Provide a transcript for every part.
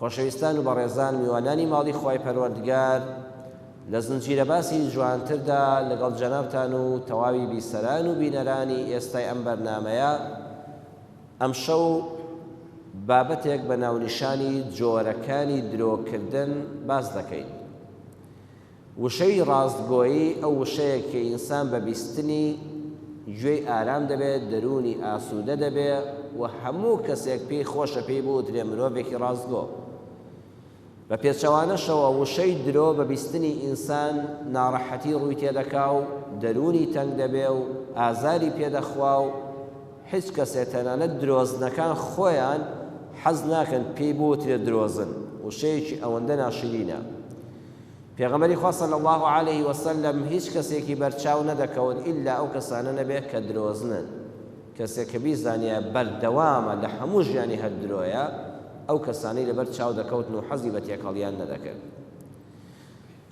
خۆشەویستان و بەڕێزان میوانانی ماڵی خوای پەروەردگار لە زنجیرە باسی جوانتردا لەگەڵ جەنابتان و تەواوی بیسەران و بینەرانی ئێستای ئەم بەرنامەیە ئەمشەو بابەتێک بە ناونیشانی جۆرەکانی درۆکردن باس دەکەین. وشەی ڕاستگۆیی ئەو وشەیە کە ئینسان بە بیستنی گوێی ئارام دەبێت، دەروونی ئاسوودە دەبێ و هەموو کەسێک پێی خۆشە پێی بوترێ مرۆڤێکی ڕاستگۆ. بە پێچەوانەشەوە وشەی درۆ بە بیستنی ئینسان ناڕەحەتی ڕووی تێ دەکا و دەروونی تەنگ دەبێ و ئازاری پێ دەخوا و هیچ کەسێ تەنانەت درۆزنەکان خۆیان حەز ناکەن پێی بوترێ درۆزن، وشەیەکی ئەوەندە ناشرینە. پێغەمبەری خوا صلی اللە علیە وسلم هیچ کەسێکی بەرچاو نەدەکەوت ئیلا ئەو کەسانە نەبێت کە درۆزنن، کەسێک کە بیزانیایە بەردەوامە لە هەموو ژیانی هەر درۆیە ئەو کەسانەی لەبەر چاو دەکەوتن و حەزی بە تێکەڵیان نەدەکرد.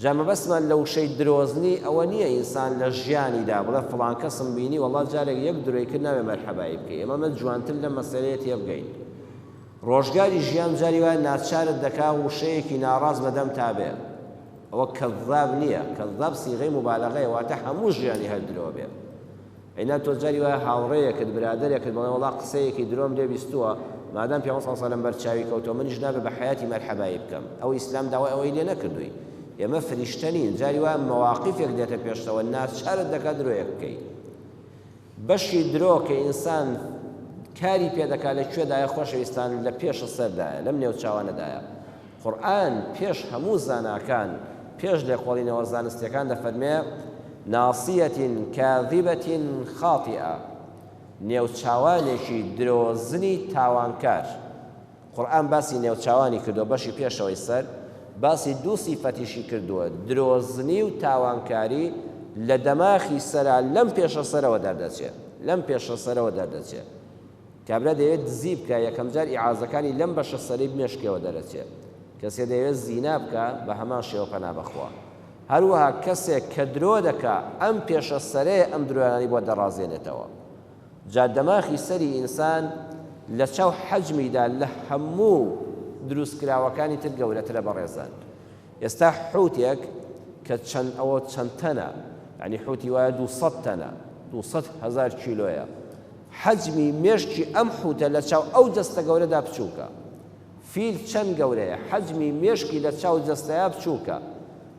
جا مەبەستمان لە وشەی درۆزنی ئەوە نییە ئینسان لە ژیانیدا بڵێ فڵان کەسم بینی وەڵا جارێک یەک درۆی کرد نابێ مەرحەبایی بکەی، ئێمە مە جوانتر لەم مەسەلەیە تێبگەین. ڕۆژگاری ژیان جاری وایە ناچارت دەکا وشەیەکی ناڕاست بە دەمتا بێ ئەوە کەزاب نیە کەزاب سیغەی موبالەغەیە واتە هەموو ژیانی هەر درۆ بێ ئەینا تۆ جاری وایە هاوڕێیەکت برادەرێکت بەڵێ وەڵا قسەیەکی درۆم لێ بیستووە مادام پێ صلی الله بەر چاوی کەوتەوە منیش نابێ بە حیاتی مەرحەبایی بکەم ئەو ئیسلام داوای ئەوەی لێ نەکردووی ئێمە فریشتە نین جاری وایە مەواقیفێک دێتە پێشتەوە ناچارت دەکات درۆیەک بکەیت بەشی درۆ کە ئینسان کاری پێ دەکات لە کوێدایە خۆشەویستان لە پێش سەردایە لەم نێو چاوانەدایە قورئان پێش هەموو زاناکان پێش لێکۆڵینەوە زانستیەکان دەفەرمێ ناصیەتی کاذبەتی خاطئە نێو چاوانێکی درۆزنی تاوانکار. قورئان باسی نێوچاوانی کردووە بەشی پێشەوەی سەر، باسی دوو سیفەتیشی کردووە، درۆزنی و تاوانکاری لە دەماخی سەرا لەم پێشە سەرەوە دەردەچێ لەم پێشە سەرەوە دەردەچێ کابرا دەیەوێت دزی بکا یەکەم جار ئیعازەکانی لەم بەشە سەرەی بمێشکەوە دەرەچێ کەسێ دەیەوێت زینا بکا بە هەمان شێوە پەنا بەخوا هەروەها کەسێک کە درۆ دەکا ئەم پێشە سەرەیە ئەم درۆیانەی بۆ دەڕازێنێتەوە جا دەماخی سەری ئینسان لەچاو حەجمیدا لە هەموو دروستکراوەکانی تر گەورەترە بەڕێزان ئێستا حوتێک کە چەند ئەوە چەند تەنە یعنی حوتی وایە دوو سەد تەنە دوو سەد هەزار کیلۆیە حەجمی مێشکی ئەم حوتە لەچاو ئەو جەستە گەورەدا بچووکە فیل چەند گەورەیە؟ حەجمی مێشکی لە چاو جەستەیا بچووکە،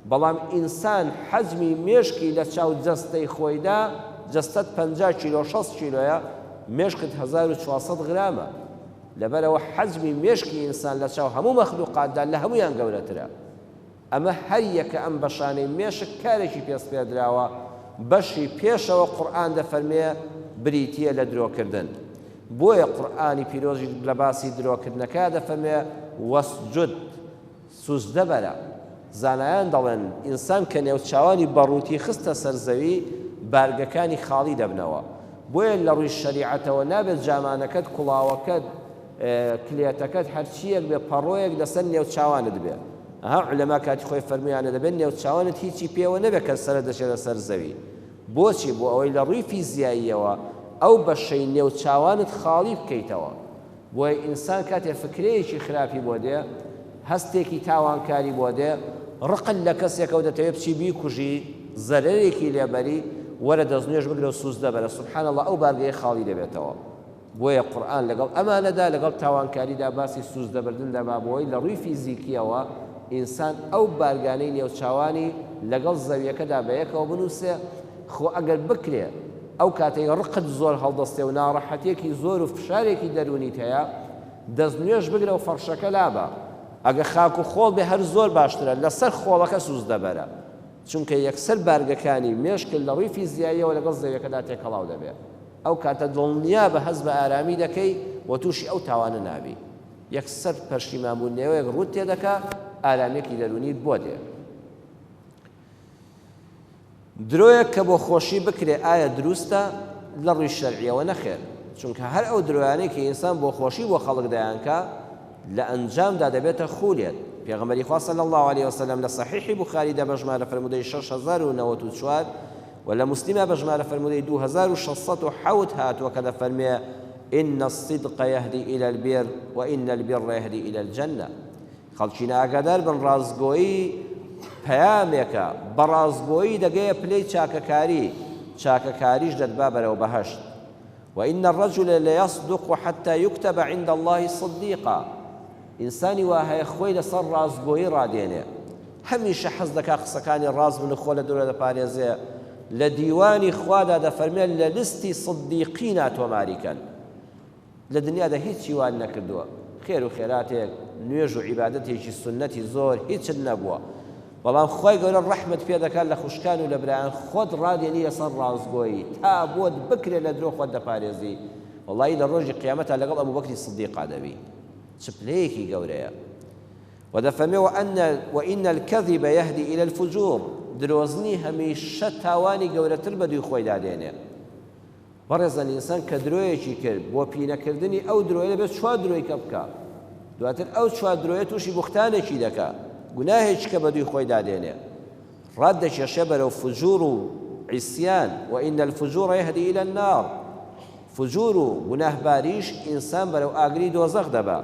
بەڵام ئینسان حەجمی مێشکی لە چاو جەستەی خۆیدا، جەستەت پەنجا کیلۆ شەست کیلۆیە، مێشکت هەزار و چوار سەد غرامە، لەبەرئەوە حەجمی مێشکی ئینسان لە چاو هەموو مەخلوقاتدا لە هەموویان گەورەترە. ئەمە هەریەکە ئەم بەشانەی مێشک کارێکی پێ سپێردراوە، بەشی پێشەوە قورئان دەفەرمێ بریتییە لە درۆکردن، بۆیە قورئانی پیرۆزیش لە باسی درۆکردنەکە دەفەرمێ، واسجد، سوجدە بەرە، زانایان دەڵێن ئینسان کە نێوچاوانی بە ڕووتی خستە سەر زەوی بارگەکانی خاڵی دەبنەوە، بۆیە لە ڕووی شەریعەتەوە نابێ جامانەکەت، کوڵاوەکەت، کلێتەکەت، هەرچییەک بێ پەڕۆیەک لەسەر نێوچاوانت بێ. ئەها عولەما کاتی خۆی فەرموویانە دەبێت نێوچاوانت هیچی پێوە نەبێت کە سەرت دەچێتە سەر زەوی، بۆچی؟ بۆ ئەوەی لە ڕووی فیزیاییەوە ئەو بەشەی نێوچاوانت خاڵی بکەیتەوە، بۆیە ئینسان کاتێ فکرەیەکی خراپی بۆ دێ، هەستێکی تاوانکاری بۆ دێ، ڕقت لە کەسێکە و دەتەوێ بچی بیکوژی، زەرەرێکی لێ بەری، وەرە دەستنوێژ بگرە و سوزدە بەرە، سبحان اللە ئەو بارگەیە خاڵی دەبێتەوە. بۆیە قورئان لەگەڵ ئەمانەدا، لەگەڵ تاوانکاریدا باسی سوزدەبردن دەبا بۆی لە ڕووی فیزیکییەوە ئینسان ئەو بارگانەی نێوچاوانی لەگەڵ زەویەکەدا بەیەکەوە بنووسێ، خۆ ئەگەر بکرێ ئەو کاتەی ڕقت زۆر هەڵدەستێ و ناڕەحەتیەکی زۆر و فشارێکی دەروونیت هەیە دەست نوێژ بگرە و فەڕشەکە لابە، ئەگە خاک و خۆڵ بێ هەر زۆر باشترە لەسەر خۆڵەکە سوزدەبەرە، چونکە یەکسەر بارگەکانی مێشکت لە ڕووی فیزیاییەوە لەگەڵ زەویەکەدا تێکەڵاو دەبێ. ئەو کاتە دڵنیا بە هەست بە ئارامی دەکەی و تووشی ئەو تاوانە نابی. یەکسەر پەشیمان بووننەوەیەک ڕووت تێ دەکا، ئارامیەکی دەروونیت بۆ دێ. درۆیەک کە بۆ خۆشی بکرێ ئایا دروستە؟ لە ڕووی شەرعیەوە نەخێر، چونکە هەر ئەو درۆیانەی کە ئینسان بۆ خۆشی بۆ خەڵک دەیانکا لە ئەنجامدا دەبێتە خوولێت. پێغەمبەری خوا صلی اللە علیە وسلم لە صحیحی بوخاری دا بە ژمارە فرموودەی شەش هەزار و نەوەد و چوار، وە لە موسلیمە بە ژمارە فەرموودەی دوو هەزار و شەش سەد و حەوت هاتووە کە دەفەرموێ، ان الصدق یهدی الی البر و ان البر یهدی الی الجنە، خەڵکینە ئاگادار بن ڕاستگۆیی پەیامێکە، بە ڕاستگۆیی دەگەیە پلەی چاکەکاری، چاکەکاریش دەتبا بەرەو بەهەشت، وان الرجل لیصدق حتی یکتب عند اللە صدیقا. ئینسانی وا هەیە خۆی لەسەر ڕاستگۆیی ڕادێنێ، هەمیشە حەز دەکا قسەکانی ڕاست بن و خۆ لە درۆ دەپارێزێ، لە دیوانی خوادا دەفەرمێ لە لیستی صدیقینا تۆماری کەن. لە دنیادا هیچی وات نەکردووە، خێر و خێراتێک، نوێژ و عیبادەتێکی سوننەتی زۆر هیچت نەبووە، بەڵام خوای گەورە ڕەحمت پێ دەکا لە خوشکان و لە برایان خۆت ڕادێنی لەسەر ڕاستگۆیی، تا بۆت بکرێ لە درۆ خۆت دەپارێزی، وەڵایی لە ڕۆژی قیامەتا لەگەڵ ئەبوبەکری صدیقا دەبی. چ پلەیەکی گەورەیە. وە دەفەرمێ، وان وان الکذب یهدی الی الفجور، درۆزنی هەمیشە تاوانی گەورەتر بەدووی خۆیدا دێنێ. بەڕێزان ئینسان کە درۆیەکی کرد، بۆ پینەکردنی ئەو درۆیە دەبێ چوار درۆی کە بکا. دواتر ئەو چوار درۆیە تووشی بوختانێکی دەکا، گوناهێکی کە بەدووی خۆیدا دێنێ. ڕات دەکێشێ بەرەو فجور و عیسیان، وان الفجور یهدی الی النار. فجور و گوناه باریش ئینسان بەرەو ئاگری دۆزەخ دەبا،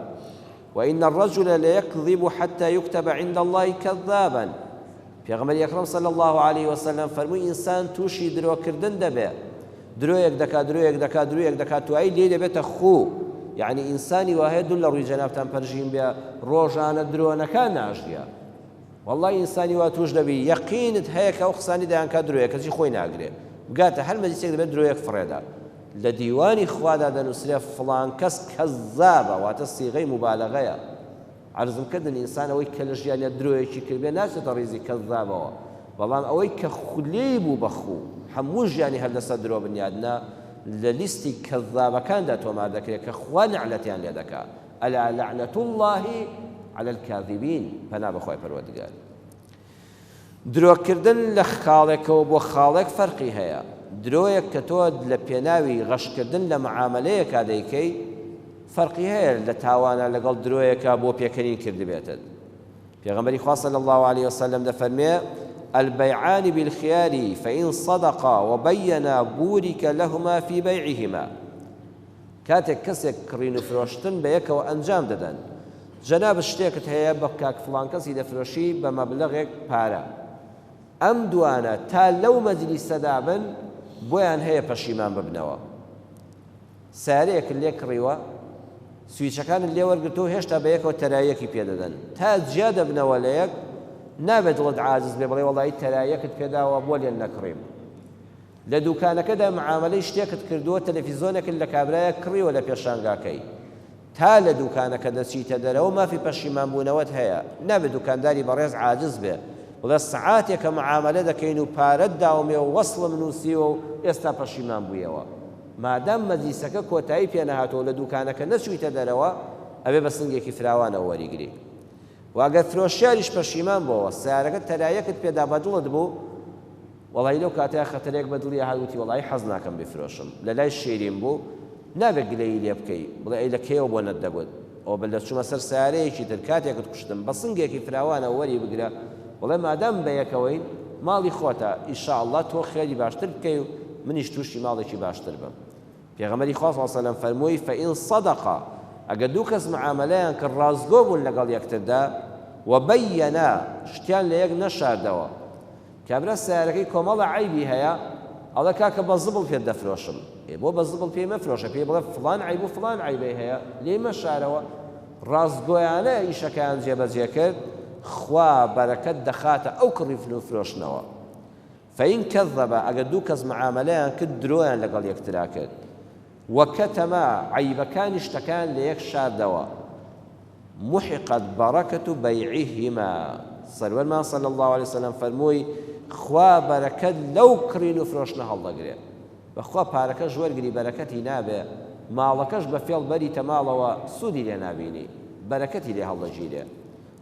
و ان الرجل لیکذب حتی یکتب عند اللە کذابا، پێغەمبەری ئەکرەم صلی اللە علیە وسلم فەرمووی ئینسان توشی درۆ کردن دەبێ درۆیەک دەکا درۆیەک دەکا درویەک دەکا توایی لێی دەبێتە خوو، یەعنی ئینسانی واهەیە دوور لەڕووی جەنابتان پەرژین بێ ڕۆژانە درۆنەکا ناژیا. وەڵڵا ئینسانی وا توش دەبی یەقینت هەیە کە ئەو قسانەی دەیانکات درۆیە کەچی خۆی ناگرێ بگاتە هەر مەجلیسێک دەبێت درۆیەک فڕێدا لە دیوانی خوادا دەنوسرێ فڵان کەس کەزابە واتە سیغەی موبالەغەیە عەرزم کردن ئینسان ئەوەی کە لە ژیانیا درۆیەکی کردبێ ناچێتە ڕیزی کەزابەوە بەڵام ئەوەی کە خولێی بوو بەخوو هەموو ژیانی هەر لەسەر درۆ بنیادنا لە لیستی کەزابەکاندا تۆمار دەکرێت کە خوا نەعلەتیان لێ دەکا الا لعنە اللە علی الکاذبین پەنا بەخوای پەروەردگار درۆ کردن لە خاڵێکەوە بۆ خاڵێک فەرقی هەیە درۆیەک کە تۆ لە پێناوی غەشکردن لە معاملەیەکا دەیکەی فەرقی هەیە لە تاوانە لەگەڵ درۆیەکە بۆ پێکەنین کردبێتت پێغمبەری خوا صلی الله عليه وسلم دەفەرمێ البيعان بالخيار فإن صدقا وبينا بورك لهما في بيعهما کاتێک کەسێک کڕین و فرۆشتن بە یەکەوە ئەنجام دەدەن جەنابت شتێکت هەیە بە کاک فڵان کەسی دەفرۆشی بە مەبلەغێک پارە ئەم دوانە تا لەو مەجلیسەدا بن بۆیان هەیە پەشیمان ببنەوە سارێکت لێ کڕیوە سویچەکانت لێ وەرگرتو و هێشتا بە یەکەوە تەرایەکی پێدەدەن تا جیا دەبنەوە لە یەک نابێت دڵت عاجز بێ بڵێ وەڵی تەرایەکت پێداوە بۆ لێن نەکڕیم لە دوکانەکەدا معامەلەی شتێکت کردووە تەلەفیزۆنێکت لە کابرایەک کڕیوە لە پێشانگاکەی تا لە دوکانەکە دەچیتە دەرەوە مافی پەشیمان بوونەوەت هەیە نابێ دوکانداری بەڕێز عاجز بێ بڵێ سەعاتێکە معامەلە دەکەین و پارەت داومێ و وەسڵم نووسیوە و ئێستا پەشیمان بوویەوە مادام مەجلیسەکە کۆتایی پێ نەهاتووە و لە دوکانەکە نەچوویتە دەرەوە ئەبێ بە سنگێکی فراوانەوە وەریگری و ئەگەر فرۆشیاریش پەشیمان بۆوە سەیارەکە تەرایەکت پێدا بە دڵت بوو وەڵایی لەو کاتەیا خەتەرێک بە دڵی ئەهات وتی وەڵایی حەز ناکەم بیفرۆشم لە لای شیرین بوو نابێ گلەیی لێ بکەی بڵێ ئەی لە کەیەوە بۆ نەتدەگوت ئەوە بە لەچوومە سەر سەیارەیەکی تر کاتێکت کوشتم بە سنگێکی فراوانەوە وەری بگرە بڵێ مادام بە یەکەوەین ماڵی خۆتە ئیشا اللە تۆ خێری باشتر بکەی و منیش تووشی ماڵێکی باشتر بم پێغەمبەری خوا صلی اللە علیە وسلم فەرمووی فەئین صدقا ئەگە دوو کەس معامەلەیان کرد ڕاستگۆ بوون لەگەڵ یەکتردا وبینا شتیان لە یەک نەشاردەوە کابرا سەیارەکەی کۆمەڵە عەیبی هەیە ئەڵێ کاکە بە زبڵ پێت دەفرۆشم ئێ بۆ بە زبڵ پێی مەفرۆشە پێی بڵێ فڵان عەیب و فڵان عەیبەی هەیە لێی مەشارەوە ڕاستگۆیانە ئیشەکەیان جێبەجێ کرد خوا بەرەکەت دەخاتە ئەو کڕیفن و فرۆشتنەوە فەین کەزەبە ئەگەر دوو کەس معامەلەیان کرد درۆیان لەگەڵ یەکترا کرد وکتما عەیبەکانی شتەکان لەیەک شاردەوە، محقت بەڕەکەتو بەیعیهما، سەروەرمان صلی اللە علیە وسلم فەرمووی، خوا بەرەکەت لەو کڕین و فرۆشتنە هەڵدەگرێ، بەخوا پارەکەش وەرگری بەرەکەتی نابێ، ماڵەکەش بە فێڵ بەریتە ماڵەوە سوودی لێ نابینی، بەرەکەتی لێ هەڵدەگیرێ،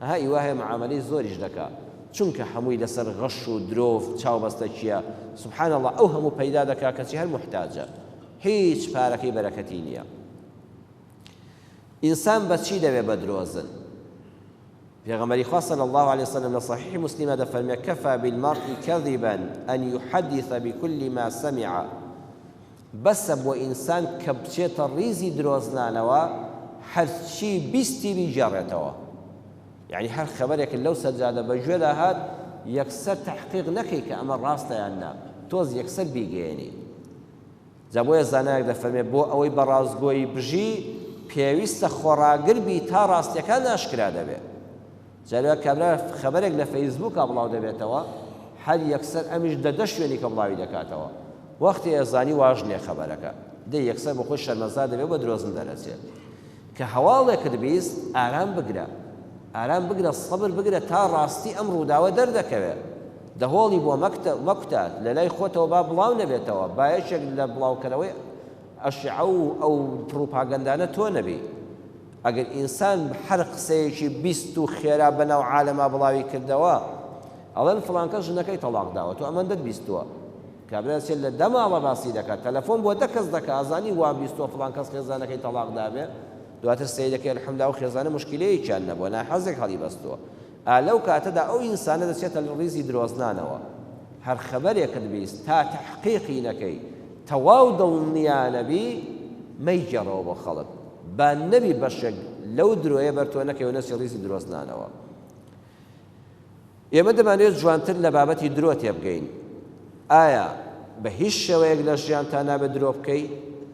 ئەها ئی وا هەیە معامەلەی زۆریش دەکا، چونکە هەمووی لەسەر غەش و درۆو چاوبەستەکیە، سبحان اللە ئەو هەموو پەیدا دەکا کەچی هەر موحتاجە. هیچ پارەکەی بەرەکەتی نیە ئینسان بەچی دەوێ بەدرۆزن پێغەمەری خوا صلی الله عليه وسلم لە صحیح مسلمە دەفەرمێ کەفا بالمرء كذبا ان يحدث بكل ما سمع بەسە بۆ ئینسان کە بچێتە ڕیزی درۆزنانەوە هەرچی بیستی بیگەڕێتەوە یعنی هەر خەبەرێک لەو سەرجادە بەگوێدا هات یەکسەر تحقیق نەکەی کە ئەمە ڕاستەیان نا تۆز یەکسەر بیگەێنی جا بۆیە زانایەک دەفەرمێت بۆ ئەوەی بە ڕاستگۆیی بژی پێویستە خۆڕاگر بی تا ڕاستیەکان ئاشکرا دەبێت جارێک کابرا خەبەرێک لە فەیسبووکا بڵاو دەبێتەوە هەر یەکسەر ئەمیش دە دە شوێنی کە بڵاوی دەکاتەوە وەختی ئێزانی واژ نیە خەبەرەکە دە یەکسەر بە خۆی شەرمەزار دەبێت بە درۆزن دەرەچێت کە هەواڵێکت بیست ئارام بگرە ئارام بگرە سەبر بگرە تا ڕاستی ئەم ڕووداوە دەردەکەوێت دەهۆڵی بۆ مەکتە مەکوتات لەلای خۆتەوە با بڵاو نەبێتەوە با یەکێک لە بڵاوکەرەوەی ئەشعە و ئەو پڕوپاگەندانە تۆ نەبی ئەگەر ئینسان هەر قسەیەکی بیست و خێرا بەناو عالەما بڵاوی کردەوە ئەڵێن فڵانکەس ژنەکەی تەڵاق داوە تۆ ئەمەندەت بیستووە کابرا چێ لە دە ماڵە باسی دەکا تەلەفۆن بۆ دە کەس دەکا ئەزانی وا بیستوە فڵان کەس خێزانەکەی تەڵاق دابێ دواتر سەیر دەکەی الحمدللە ئەو خێزانە موشکیلەیەکیان نەبوە ناحەزێک هەڵیبەستوە ئا لەو کاتەدا ئەو ئینسانە دەچێتە ڕیزی درۆزنانەوە هەر خەبەرێکت بیست تا تەحقیقی نەکەی تەواو دڵنیا نەبی مەیگێڕەوە بۆ خەڵک با نەبی بەشێک لەو درۆیە بەر تۆ نەکەی و نەچی ڕیزی درۆزنانەوە ئێمە دەمانەوێت جوانتر لە بابەتی درۆ تێبگەین. ئایا بە هیچ شێوەیەک لە ژیانتا نابێت درۆ بکەی؟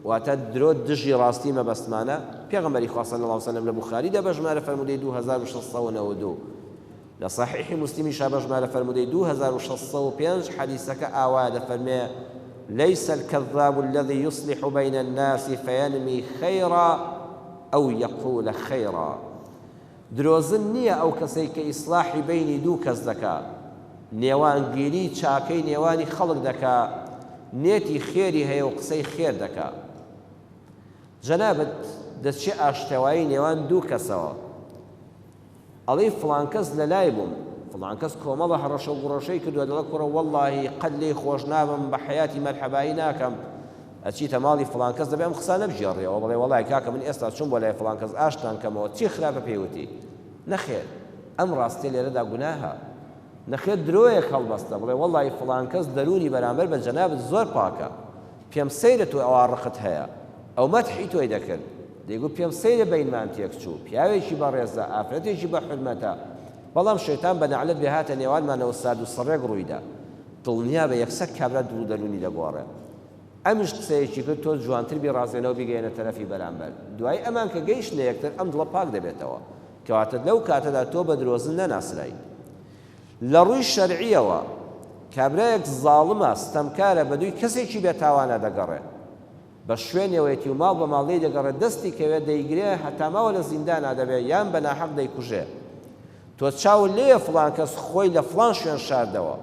واتە درۆ دژی ڕاستی مەبەستمانە؟ پێغەمبەری خوا صلی اللە وسلم لە بوخاریدا بە ژمارە فەرموودەی دوو هەزار و شەش سەد و نەوەد و دوو، لە صحیح مسلمیشا بە ژمارە فەرموودەی دوو هەزار و شەش سەد و پێنج حەدیسەکە ئاوایە دەفەرمێ، لیس الکذاب الذی یصلح بین الناس فینمی خیرا او یقول خیرا. درۆزن نیە ئەو کەسەی کە ئیسلاحی بەینی دوو کەس دەکا نێوانگیری چاکەی نێوانی خەڵک دەکا نیەتی خێری هەیە و قسەی خێر دەکا جەنابت دەچێ ئاشتەوایی نێوان دوو کەسەوە ئەڵێی فڵان کەس لەلای بووم فڵان کەس کۆمەڵە هەڕەشە و گوڕەشەی کردوە دەڵێ کوڕە وەڵاهی قەت لێی خۆش نابم بە حەیاتی مەرحەبایی ناکەم ئەچیتە ماڵی فڵان کەس دەبێ ئەم قسانە بگێڕیەوە بڵێ وەڵای کاکە من ئێستا چووم بۆ لای فڵان کەس ئاشتتان کەمەوە چی خراپە پێی وتی نەخێر ئەم ڕاستیە لێرەدا گوناهە نەخێر درۆیەک هەڵبەستە بڵێ وەڵای فڵان کەس دەرونی بەرامبەر بە جەنابت زۆر پاکە پێم سەیرە تۆ ئەوا ڕقت هەیە ئەو مەتحی تۆی دەکرد دەیگو پێم سەیرە بینمان تێک چوو پیاوێکی بەڕێزە ئافرەتێکی بە حرمەتە بەڵام شەیتان بە نەعلەت بێ هاتە نێوانمانەوە سارد و سڕێک ڕوویدا دڵنیابە یەکسەر کابرا دڵ و دەروونی دەگۆڕێت. ئەمیش قسەیەکی کرد، تۆ جوانتر بی ڕازێنەوە بیگەیەنە تەرەفی بەرامبەر. دوای ئەمان کە گەیشتنە یەکتر ئەم دڵە پاک دەبێتەوە. کەواتە لەو کاتەدا تۆ بە درۆزن نەناسرای. لە ڕووی شەرعییەوە کابرایەک زاڵمە، ستەمکارە، بەدووی کەسێکی بێتاوانا دەگەڕێت. بە شوێنێوەیەتی و ماڵ بە ماڵ لێی دەگەڕێ، دەستی کەوێ دەیگرێ، هەتا ماوە لە زیندانا دەبێ، یان بە ناحەق دەیکوژێ. تۆ چاوت لێیە فڵان کەس خۆی لە فڵان شوێن شاردەوە،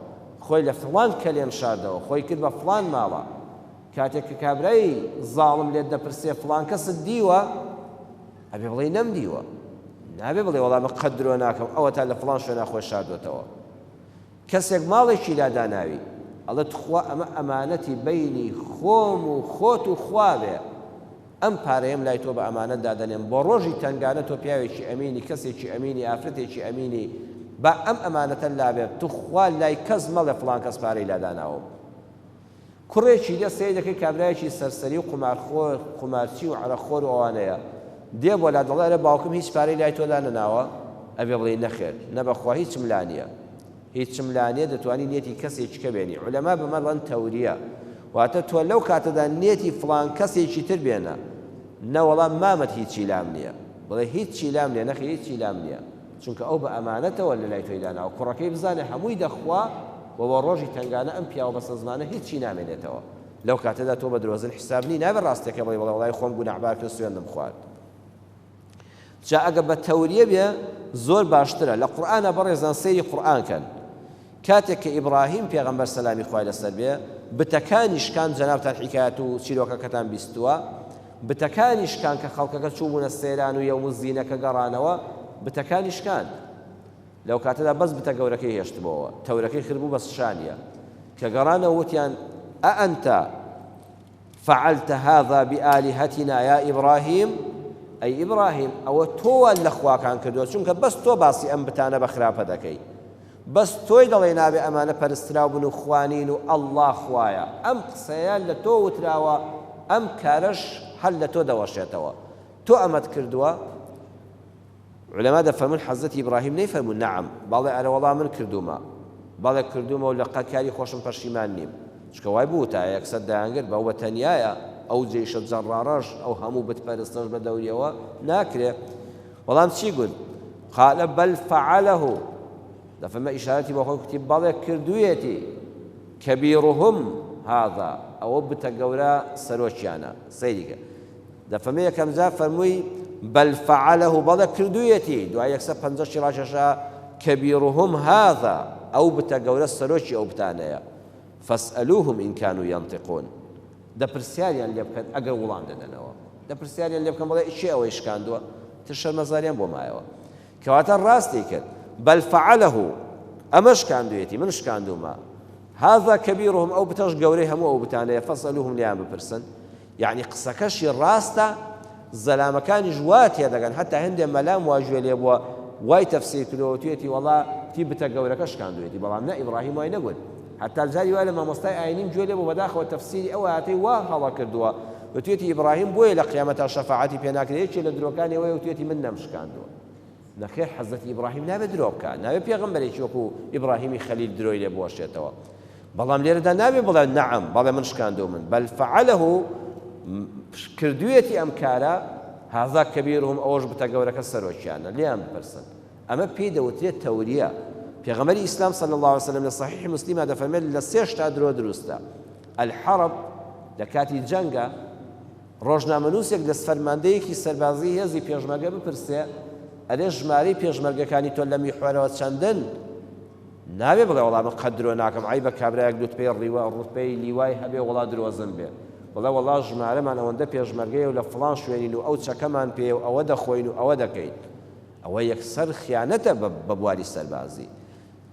خۆی لە فڵان کەلێن شاردەوە، خۆی کرد بە فڵان ماڵە. کاتێک کە کابرای زاڵم لێت دەپرسێ فڵان کەست دیوە؟ ئەبێ بڵێی نەمدیوە. نابێ بڵێی وەڵا من قەت درۆ ناکەم، ئەوەتا لە فڵان شوێنا خۆی شاردۆتەوە. کەسێک ماڵێکی لا داناوی ئەڵێ توخوا ئەمە ئەمانەتی بەینی خۆم و خۆت و خواێ ئەم پارەیەم لای تۆ بە ئەمانەت دادەنێم بۆ ڕۆژی تەنگانە تۆ پیاوێکی ئەمینی کەسێکی ئەمینی ئافرەتێکی ئەمینی با ئەم ئەمانەتە لابێت توخوا لای کەس مەڵێ فڵان کەس پارەی لا داناوم کوڕێکی دێ سەیر دەکەی کابرایەکی سەرسەری و قومارخۆر قومارچی و عەرەق خۆر و ئەوانەیە دێ بۆلا دەڵێ ئەرێ باوکم هیچ پارەی لای تۆ لا نەناوە ئەبێ بڵێی نەخێر نە بەخوا هیچم لا نیە هیچم لا نیە دەتوانی نیەتی کەسێکی کە بێنی عولەما بمە ڵەن تەوریە واتە تۆ لەو کاتەدا نیەتی فڵان کەسێکی تر بێنە نەوەڵا مامەت هیچی لام نیە بڵێ هیچی لام نیە نەخێر هیچی لام نیە چونکە ئەو بە ئەمانەتەوە لەلای تۆی داناوە کوڕەکەی بزانێ هەمووی دەخوا و وە ڕۆژی تەنگانە ئەم پیاوە بەسەزمانە هیچی نامێنێتەوە لەو کاتەدا تۆ بە درۆزن حیساب نی نابێ ڕاستەکە بڵێ بڵێ وەڵای خۆم گوناحبار کرد سوێندم خوارد جا ئەگە بە تەوریە بێ زۆر باشترە لە قورئانە بەڕێزان سەیری قورئان کەن کاتێک کە ئیبڕاهیم پێغەمبەر سەلامی خوای لەسەر بێ بتەکانی شکاند جەنابتان حیکایەت و چیرۆکەکەتان بیستووە بتەکانی شکاند کە خەڵکەکە چووبوونە سەیران و یەوم الزینەکە گەڕانەوە بتەکانی شکاند لەو کاتەدا بەس بتە گەورەکەی هێشتبەوە تەورەکەی خربوو بە شانیە کە گەڕانەوە وتیان ئەئەنتە فعلت هذا بآلهتنا یا ابراهیم، ئەی ئیبراهیم ئەوە تۆ وات لە خواکان کردووە چونکە بەس تۆ باسی ئەم بتانە بە خراپە دەکەی بەس تۆی دەڵێی نابێ ئەمانە پەرستراو بن و خوا نین و ئەڵڵا خوایە ئەم قسەیە لە تۆ وتراوە ئەم کارەش هەر لە تۆ دەوەشێتەوە تۆ ئەمەت کردووە عولەما دەفەرموون، حەزرەتی ئیبراهیم نەیفەرموو، نەعەم، بەڵێ، ئەرەوەڵا من کردوومە، بەڵێ کردوومە و لە قەت کاری خۆشم پەشیمان نیم، چونکە وای بووتایە، یەکسەر دەیانگرت، بە ئەو بە تەنیایە، ئەو جەیشە جەڕڕاڕەش، ئەو هەموو بت پەرستەش بە دەوریەوە، ناکرێ. بەڵام چی گوت؟ قال بل فعله، دەفەرمێ ئیشارەتی بە خۆی کوتی، بەڵێ کردوویەتی، کبیرهم هذا، ئەوە بتە گەورە سەرۆکیانە، سەیری کە. دەفەرمێ یەکەمجار فەرمووی، بل فعله، بەڵێ کردوویەتی، دوای یەک سەد پەنجا شی ڕاکێشا، کبیرهم هذا، ئەو بتە گەورە سەرۆکی ئەو بتانەیە، فاسئلوهم ان کانوا ینطقون، دە پرسیاریان لێ بکەن ئەگەر وڵام دەدەنەوە، دە پرسیاریان لێ بکەن بڵێ کێ ئەوەی شکاندووە، تر شەرمەزاریان بۆ مایەوە. کەواتە ڕاستی کرد، بل فعله، ئەمە شکاندوویەتی، من شکاندوومە، هذا کبیرهم، ئەو بتەش گەورەی هەموو ئەو بتانەیە، فاسئلوهم، لێیان بپرسن، یەعنی قسەکەشی ڕاستە زەلامەکانیش وا تێدەگەن هەتا هەندێ مەلام وا گوێ لێ بووە وای تەفسیر کردەوە توێتی وەڵا تی بتە گەورەکە شکاندوێتی بەڵام نە ئیبراهیم وای نەگوت هەتا جاری وای لە مامۆستای ئاینیم گوێ لێ بۆ بەداخەوە تەفسیری ئەو ئاەتەی وا هەڵا کردووە وتێتی ئیبراهیم بۆیە لە قیامەتا شەفاعەتی پێناکرێت یەکێ لە درۆکانیەوەی وتێتی من نەمشکاندووە نەخێر حەزرەتی ئیبڕاهیم نابێ درۆ بکا نابێ پێغەمبەرێکی وەکو ئیبڕاهیمی خەلیل درۆی لێ بوەشێتەوە بەڵام لێرەدا نابێ بڵێ نەعەم بەڵێ من شکاندو من بەل فعله کردویەتی ئەم کارە هازا کەبیرهم ئەوەش بتە گەورەکە سەرۆکیانە لیان بپرسن ئەمە پێی دەوترێت تەوریە پێغەمەری ئیسلام صلی الله عليه وسلم لە صحیح مسلمە دەفەرمێت لە سێشتا درۆ دروستە الحرب لە کاتی جەنگە ڕۆژنامەنووسێک لە فەرماندەیەکی سەربازیی هێزی پێشمەرگە بپرسێ، ئەرێ ژمارەی پێشمەرگەکانی تۆ لە میحوەرەوە چەندن؟ نابێ بڵێ وەڵا من قەت درۆ ناکەم، عەیبە کابرایەک لوتپەی ڕیوە، ڕوتبەی لیوای هەبێ وەڵا درۆزن بێ. بڵێ وەڵا ژمارەمان ئەوەندە پێشمەرگەیە و لە فڵان شوێنین و ئەو چەکەمان پێیە و ئەوە دەخۆین و ئەوە دەکەین. ئەوە یەکسەر خیانەتە بە بواری سەربازی.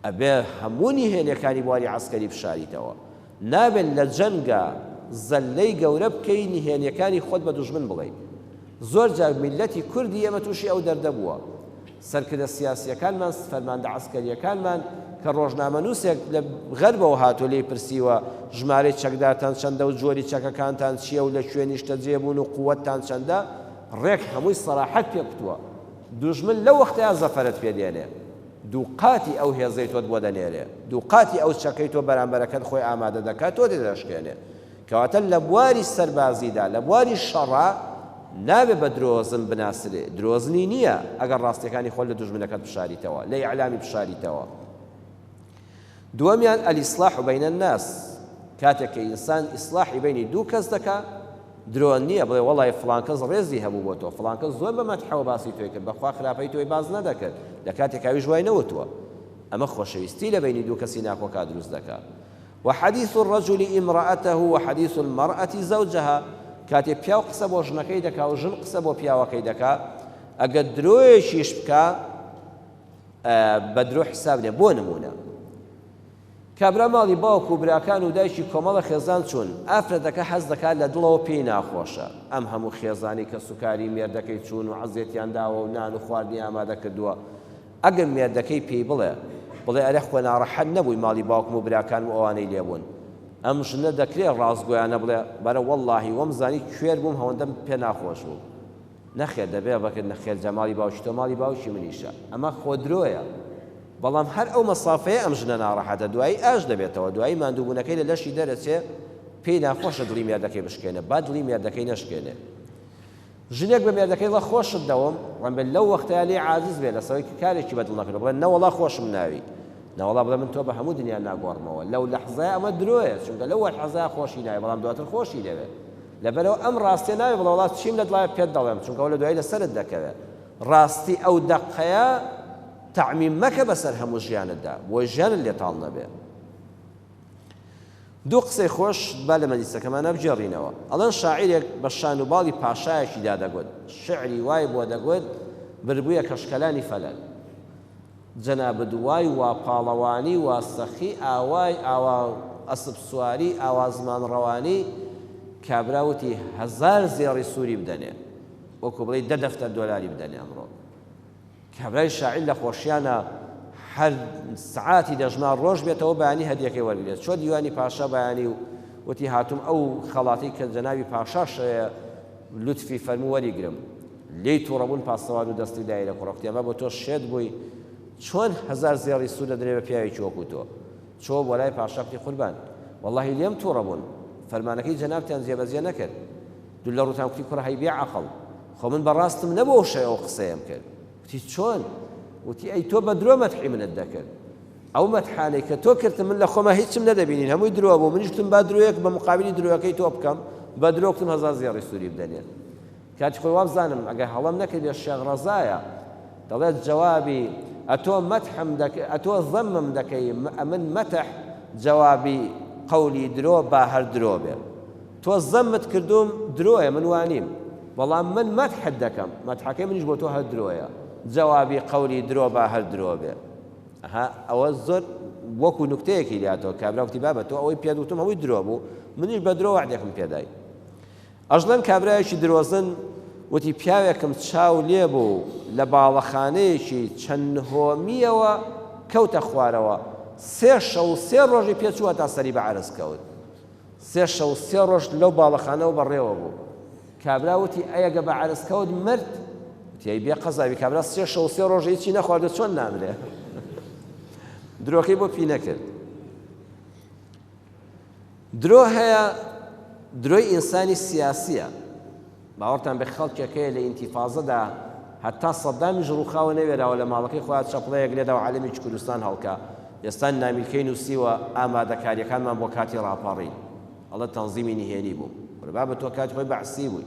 ئەبێ هەموو نهێنیەکانی بواری عەسکەری بشاریتەوە، نابێت لە جەنگا زەللەی گەورە بکەی نهێنیەکانی خۆت بە دوژمن بڵێی، زۆر جار میللەتی کوردی ئێمە توشی ئەو دەردە بووە، سەرکردە سیاسیەکانمان فەرماندە عەسکەریەکانمان کە ڕۆژنامەنوسێک لە غەربەوە هاتووە لێی پرسیوە ژمارەی چەکدارتان چەندە و جۆری چەکەکانتان چیە و لە کوێ نیشتەجێ بوون و قوتتان چەندە ڕێک هەمووی سەراحەت پێ کوتووە دوژمن لەو وەختەیا زەفەرت پێ دێنێ. دووقاتی ئەو هێزەی تۆت بۆ دەنێرێ، دووقاتی ئەو چەکەی تۆ بەرامبەرەکەت خۆی ئامادە دەکات تۆ تێدەشکێنێ. کەواتە لە بواری سەربازیدا، لە بواری شەڕا نابێ بە درۆزن بناسرێ، درۆزنی نییە ئەگەر ڕاستییەکانی خۆت لە دوژمنەکەت بشاریتەوە، لە ئیعلامی بشاریتەوە. دووەمیان، الاصلاح بین الناس، کاتێک کە ئینسان ئیسلاحی بەینی دوو کەس دەکا، درۆ نیە بڵێ وەڵای فڵان کەس ڕێزی هەبوو بۆ تۆ، فڵان کەس زۆر بە مەدحەوە باسی تۆی کرد، بەخوا خراپەی تۆی باس نەدەکرد، لە کاتێکا ئەویش وای نەوتووە. ئەمە خۆشەویستی لە بەینی دوو کەسی ناکۆکا دروست دەکا. و حدیث الرجل امرأته و حدیث المرأة زوجها، کاتێ پیاو قسە بۆ ژنەکەی دەکا و ژن قسە بۆ پیاوەکەی دەکا، ئەگەر درۆیەکیش بکا، بە درۆ حساب نیە بۆ نمونە کابرا ماڵی باوک و براکان و دایکی کۆمەڵە خێزان چوون ئافرەتەکە حەز دەکات لە دڵەوە پێی ناخۆشە ئەم هەموو خێزانی کە سوکاری مێردەکەی چوون و عەزێتیان داوە و نان و خواردنی ئامادە کردووە ئەگەر مێردەکەی پێی بڵێ بڵێ ئەرێ خۆ ناڕەحەت نەبووی ماڵی باوکم و براکانم و ئەوانەی لێبوون ئەم ژنە دەکرێ ڕاستگۆیانە بڵێ بەرە وەڵاهی وەم زانی کوێر بووم هەوەندەم پێ ناخۆش بوو نەخێر دەبێ بەکر نەخێر جا ماڵی باوکی تۆ ماڵی باوکی منیشە ئەمە خۆدرۆیە بەڵام هەر ئەو مەسافەیە ئەم ژنە ناڕەحەتە دوایی ئاش دەبێتەوە دوایی ماندووبوونەکەی لە لەشی دەرەچێ پێی ناخۆشە دڵی مێردەکەی بشکێنێ با دڵی مێردەکەی نەشکێنێ ژنێک بە مێردەکەی ڵە خۆشت دەوم ڕەنبێت لەو وەختەیە لێ عازز بێ لەسەوەی کارێکی بەدڵ نەکرد بڵێ نەوەڵا خۆشم ناوی نەوەڵا بڵێ من تۆ بە هەموو دنیا ناگۆڕمەوە لەو لەحزای ئەمە درۆیە چونکە لەو وەحزای خۆشی ناوی بەڵام دواتر خۆشی دەوێت لەبەرئەوە ئەم ڕاستیە نابێ بڵێ وەڵا چیم لەت وایە پێت دەڵێم چونکە ئەوە لە دوایی لەسەرت دەکەوێ ڕاستی ئەو دەقەیە تەعمیم مەکە بەسەر هەموو ژیانتدا بۆ ژیانت لێ تاڵ نەبێ دوو قسەی خۆش با لە مەلیسەکەمانە بگێڕینەوە ئەڵەن شاعیرێک بە شان و باڵی پاشایەکیدا دەگوت شعری وای بۆ دەگوت بربوویە کەشکەلانی فەلەک جەنابت وای وا پاڵەوانی وا سەخی ئاوای ئاوا ئەسپ سواری ئاوا زمان ڕەوانی کابرا وتی هەزار زێڕی سوری بدەنێ وەکو بڵێی دە دەفتەر دۆلاری بدەنێ ئەمڕۆ کابرای شاعیر لە خۆشیانە هەر سعاتی دەژما ڕۆژ بێتەوە بەیانی هەدیەکەی وەرگێت چۆ دیوانی پاشا بەیانی و وتی هاتوم ئەو خەڵاتی کە جەناوی پاشا شەیە لوتفی فەرمووەری گرم لێی توڕەبوون پاسەوان و دەستی دایە لە کوڕە کتێبا بۆ تۆ شێت بووی چۆن هەزار زێڕی سوور دەدرێ بە پیاوێکی وەکوو تۆ چۆ بۆ لای پاشا کتی قوربان وەڵاهی لێم توڕە بوون فەرمانەکەی جەنابتان جێبەجێ نەکرد دوو لە ڕووتان کتی کوڕە هەی بێ عەقڵ خۆ من بەڕاستم نەبوو ئەو شەوە ئەو قسەیەم کرد کتی چۆن وتی ئەی تۆ بە درۆ مەدحی منت دەکرد ئەو مەدحانەی کە تۆ کردم من لە خۆمە هیچم نەدەبینین هەمووی درۆ بوو منیشتم با درۆیەک بە مقابلی درۆیەکەی تۆ بکەم بە درۆکتم هەزار زێڕی سووری بدەنێت کاتی خۆی وابزانم ئەگەر هەڵەم نەکردبێت شێخ ڕەزایە دەڵێت جوابی ئەتۆ مەتحم دەک ئەتۆ زەمم دەکەی ئەمن مەتح جوابی قەولی درۆ با هەر درۆ بێ تۆ زەمت کردوم درۆیە من وانیم بەڵام من مەتحت دەکەم مەتحەکەی منیش بۆ تۆ هەر درۆیە جوابی قەولی درۆ با هەر درۆ بێ ها ئەوە زۆر وەکو نکتەیەکی لاتەوە کابراوتی بابە تۆ ئەوەی پێدوتم هەوی درۆ بوو منیش بە درۆ وعدێکم پێدای ئەژلەن کابرایەکی درۆزن وتی پیاوێکم چاو لێ بوو لە باڵەخانەیەکی چەند نهۆمییەوە کەوتە خوارەوە، سێ شەو و سێ ڕۆژی پێ چووە تا سەری بە عەرز کەوت. سێ شەو و سێ ڕۆژ لەو باڵەخانەوە بەڕێوە بوو. کابرا وتی ئەی گە بە عەرز کەوت مرد؟ وتی ئەی بێ قەزاوی کابرا سێ شەو و سێ ڕۆژ هیچی نەخواردو چۆن نامرێ؟ درۆکەی بۆ پی نەکرد. درۆ هەیە درۆی ئینسانی سیاسیە باوەڕتان بێ خەڵکێک هەیە لە ئینتیفازەدا هەتا سەدامیش ڕوخاوە نەوێراوە لە ماڵەکەی خۆیان چەپڵەیەک لێدا و عەلەمی کوردستان هەڵکا ئێستا نامیلکەی نووسیوە ئامادەکاریەکانمان بۆ کاتی ڕاپەڕین ئەڵە تەنزیمی نهێنی بوو بابە تۆ کات خۆی بەعسی بووی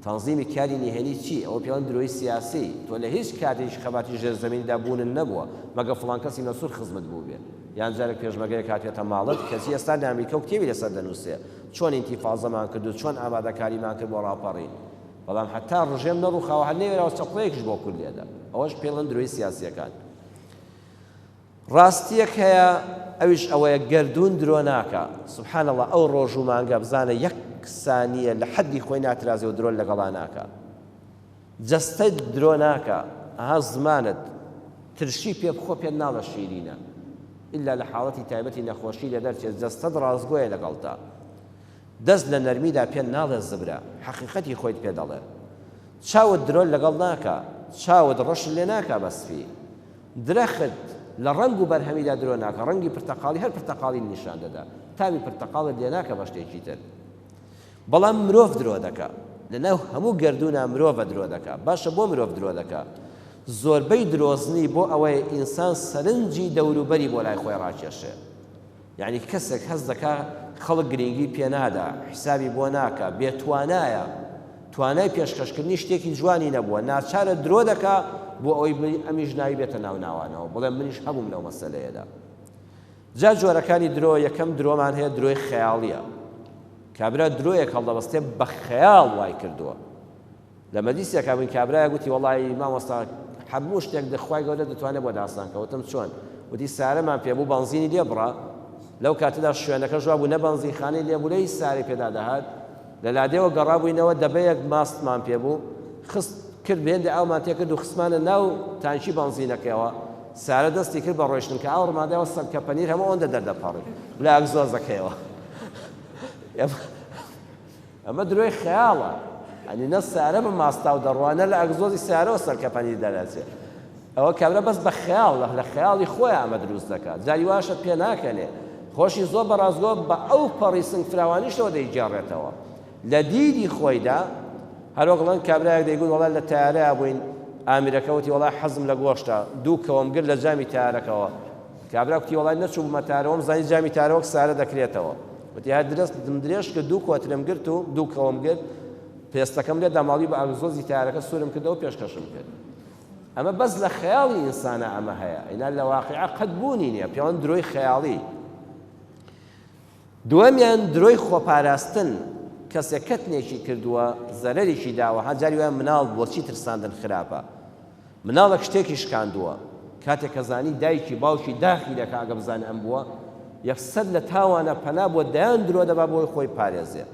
تەنزیمی کاری نهێنی چی ئەوە پێوان درۆی سیاسی تۆ لە هیچ کاتێک خەباتی ژێرزەمیندا بوونن نەبووە مەگە فڵان کەسی مەسور خزمت بوو بێت یان جارێک پێشمەرگەیەک هاتێتە ماڵت کەچی ئێستا لە ئەمریکا و کتێبی لەسەر دەنووسێ چۆن ئینتیفازەمان کرد و چۆن ئامادەکاریمان کرد بۆ ڕاپەڕین بەڵام حتا ڕژێم نەڕووخاوە هەر نەوێراوە چەقۆیەکیش بۆ کورد لێدا ئەوەش پێڵن درۆی سیاسیەکان ڕاستیەک هەیە ئەویش ئەوەیە گردون درۆ ناکە سبحان الله ئەو ڕۆژ و مانگە بزانە یەک سانیە لە حەدی خۆی ناترازێ و درۆن لەگەڵا ناکە جەستەت درۆ ناکا ئەها زمانت ترشی پێ بخۆ پێت ناڵێ شیرینە ئیلا لە حاڵەتی تایبەتی نەخۆشی لێ دەرچێ جەستەت ڕاستگۆیە لەگەڵتا دەست لە نەرمیدا پێت ناڵێ زبرە حەقیقەتی خۆیت پێ دەڵێ چاوت درۆ لەگەڵ ناکا چاوت ڕەش لێ ناکا بە سپی درەخت لە ڕەنگ و بەرهەمیدا درۆ ناکە ڕەنگی پرتەقاڵی هەر پرتەقاڵی نیشان دەدا تاوی پرتەقاڵت لێ ناکە بە شتێکی تر بەڵام مرۆڤ درۆ دەکا لە ناو هەموو گەردوونا مرۆڤە درۆ دەکا باشە بۆ مرۆڤ درۆ دەکا زۆربەی درۆزنی بۆ ئەوەیە ئینسان سەرنجی دەوروبەری بۆ لای خۆی ڕاکێشێ یعنی کەسێک هەست دەکا خەڵک گرنگی پێ نادا حیسابی بۆ ناکا بێ توانایە توانای پێشکەشکردنی شتێکی جوانی نەبووە ناچارە درۆ دەکا بۆ ئەوەی ئەمیش ناوی بێتە ناو ناوانەوە بڵێ منیش هەبووم لەو مەسەلەیەدا جا جۆرەکانی درۆ، یەکەم درۆمان هەیە درۆی خەیاڵیە، کابرا درۆیەک هەڵدەبەستێ بە خەیاڵ وای کردووە، لە مەجلیسێکا بووین کابرایەک وتی وەڵایی مامۆستا هەموو شتێک دە خوای گەورە دەتوانێ بۆ داستان کە، وتم چۆن؟ وتی سارەمان پێ بوو بەنزینی لێ بڕا، لەو کاتەدا شوێنەکەش وا بوو نە بەنزینخانەی لێ بوو نە هیچ سارەی پێدا دەهات، لە لادێوە گەڕابووینەوە، دەبەیەک ماستمان پێ بوو، خست، کرد، هێندە ئاومان تێ کرد و خستمانە ناو تانکی بەنزینەکەیەوە، سارە دەستی کرد بە ڕۆیشتن، کە ئاو ڕماندایەوە سەگکە پەنیر هەموو ئەوەندە دەردەپەڕی لە ئەگزۆزەکەیەوە. ئەمە درۆی خەیاڵە، یانی نە سارە بە ماستاو دەڕوا، نە لە ئەگزۆزی سارەوە سەگکە پەنیر دەرئەچێ. ئەوە کابرا بەس بە خەیاڵ لە خەیاڵی خۆی ئەمە دروست دەکات جاری واشە پێناکەنێ خۆشی زۆر بە ڕاستگۆ بە ئەو پەڕی سنگ فراوانیشەوە دەیگێڕێتەوە لە دیدی خۆیدا هەرۆکڵەن کابراەک دەیگوت وڵات لە تارەیە بووین ئامیرەکەوتی وڵای حەزم لە گۆشتە دوو کەوەم گر لە جامی تارەکەەوە کابرا کوتی وڵای نەچوو بمە تارەوەم زای جامی تارەوەک سارە دەکرێتەوە وتی هەر درست دم درێژ کە دوو کۆترم گرت و دوو کەوەم گرت پێستەکەم لێ داماڵی بە ئەگزۆزی تارەکە سوورم کردەوە پێشکەشم کرد ئەمە بەس لە خەیاڵی ئینسانا ئەمە هەیە ئینا لە واقیعە قەت بوونی نییە پێوان درۆی خەیاڵی دووەمیان درۆی خۆپاراستن کەسێک کەتنێکی کردووە زەرەرێکی داوە هەجاری وای مناڵ بۆچی ترساندن خراپە مناڵێک شتێکی شکاندووە کاتێک کە زانی دایکی باوکی داخی دەکە ئەگە بزانێ ئەم بووە یەکسەر لە تاوانە پەنا بۆ دەیان درۆ دەبا بۆی خۆی پارێزێ